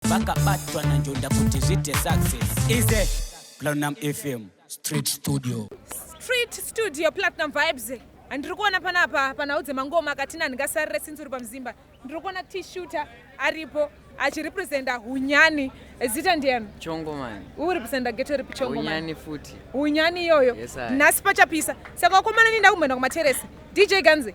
vakabatwa nanjonda kuti zviite success ize platinum fm street studio street studio platinum vibes handiri kuona panapa panhau dzemangoma katina ndingasarire since uri pamuzimba ndiri kuona t-shooter aripo achirepresenta hunyani zita ndiani chongomani urepresenta geto ripi chongomani futi hunyani iyoyo yes, nhasi pachapisa saka wakomana ninda kumboenda kumateresi dj ganzi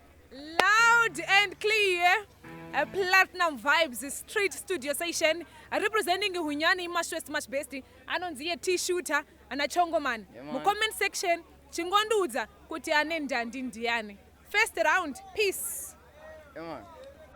Loud and clear. A platinum vibes street studio session representing hunyani imashwest mash best anonzi ye t shooter ana chongoman yeah, mucomment section chingondiudza kuti ane ndandi ndiani first round peace yeah,